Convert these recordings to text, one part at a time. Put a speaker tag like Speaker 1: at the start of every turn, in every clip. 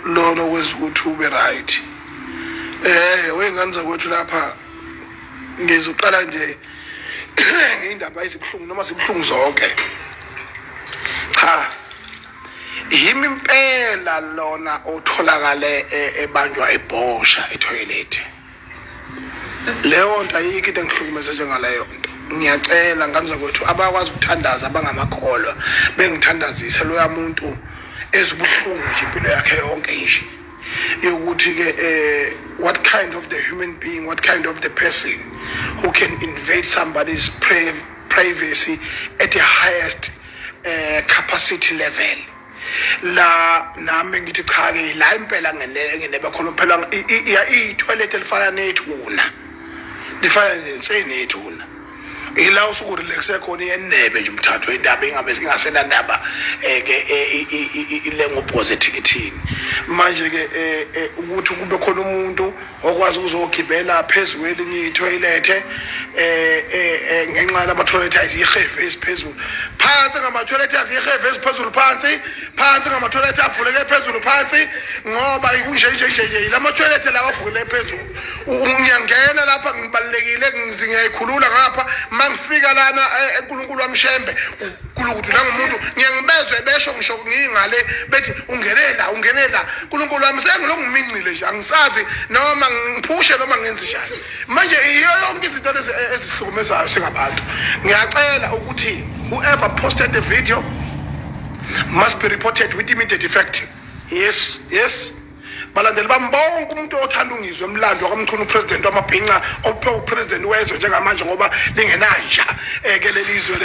Speaker 1: lona okwenza ukuthi ube right eh weyingane zakwethu lapha ngizoqala nje ngeyindaba ezibuhlungu noma zibuhlungu zonke cha yimi impela lona otholakale e, ebanjwa ebhosha ethoyilethi leyo nto ayikho into engihlukumeze njengaleyo nto ngiyacela ngane zakwethu abakwazi ukuthandaza abangamakholwa bengithandazise loya muntu ezibuhlungu nje impilo yakhe yonke nje yokuthi-ke um eh, what kind of the human being what kind of the person who can invade somebody's privacy at the highest uh, capacity level la nami ngithi cha ke la impela ngene bakhona phela itoilet elifana nethuna lifana nenseni ethuna ila usuku relaxe khona yenebe nje umthatho indaba ingabe singasena ndaba eh, ke eh, ilengo positive manje ke eh, ukuthi kube khona umuntu okwazi ukuzogibela phezu kwelinye ithoyilethe eh, eh, eh ngenxa yamathoyilethe ayizihefe esiphezulu phansi ngamathoyilethe azihefe esiphezulu phansi phansi ngamathoyilethe avuleke phezulu phansi ngoba kunje nje nje nje la mathoyilethe lawa avuleke phezulu ngiyangena lapha ngibalekile ngizingiyayikhulula ngapha mangifika lana eh, uNkulunkulu wamshembe uNkulunkulu udlula ngomuntu ngiyangibezwe besho ngisho ngingale bethi ungenela ungenela uNkulunkulu wami sengilongumingcile nje angisazi noma ngiphushe noma ngenze njani manje iyo yonke izinto lezi e-, ezihlukumezayo singabantu ngiyacela ukuthi whoever posted the video must be reported with immediate effect yes yes balandeli bami bonke umuntu othanda ungizwe emlando wakamchunu upresident wamabhinca ophe upresident wezwe njengamanje ngoba lingenanja eh, ke leli izwe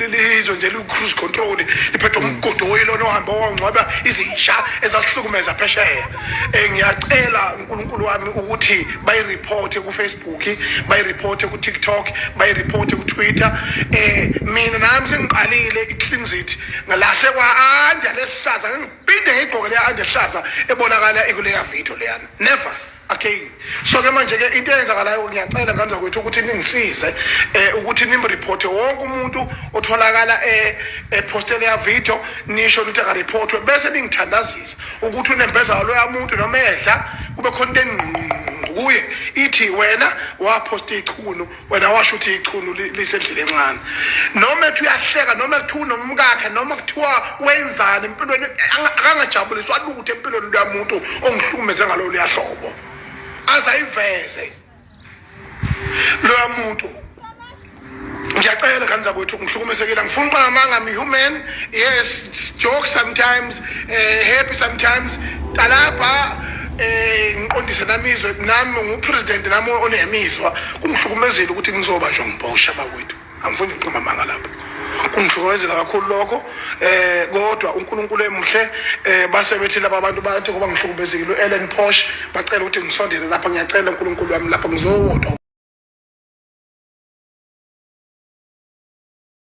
Speaker 1: lizwe nje liwu-cruise control liphethwe mm. umgudu oyilona ohambe wangcwaba izinsha ezasihlukumeza phesheya um ngiyacela unkulunkulu wami ukuthi bayiriphothe kufacebook bayiriphothe kutiktok bayiriphothe kutwitter um mina nami sengiqalile icleansit ngalahlekwa anja lesihlaza phinde ngiyigqoke leya andehlaza ebonakala ikuleya video leyana never again so ke manje ke into eyenzakalayo ngiyacela ngane zakwethu ukuthi ningisize eh ukuthi nimreporte wonke umuntu otholakala eh epostele ya video nisho ukuthi akareportwe bese ningithandazisa ukuthi unembeza lo yamuntu noma edla kube khona into engqungqu kuye ithi wena waposta ichunu wena washo ukuthi ichunu lisendlini encane noma ethi uyahleka noma ethi unomkakhe noma kuthiwa wenzani empilweni akangajabuliswa lutho empilweni luyamuntu ongihlukumeze ngalo luyahlobo azayiveze loya muntu ngiyacela ngani zakwethu ngihlukumesekile angifuni uqamanga i'm human yes joke sometimes eh happy sometimes talapha eh ngiqondise namizwe nami ngupresident nami onemizwa kungihlukumezile ukuthi ngizoba nje ngibhosha bakwethu angifuni ngiqoma manga lapho kungihlukumezela kakhulu lokho eh kodwa uNkulunkulu emuhle eh base bethi laba bantu bathi kuba ngihlukumezekile uEllen Posh bacela ukuthi ngisondele lapha ngiyacela uNkulunkulu wami lapha ngizowodwa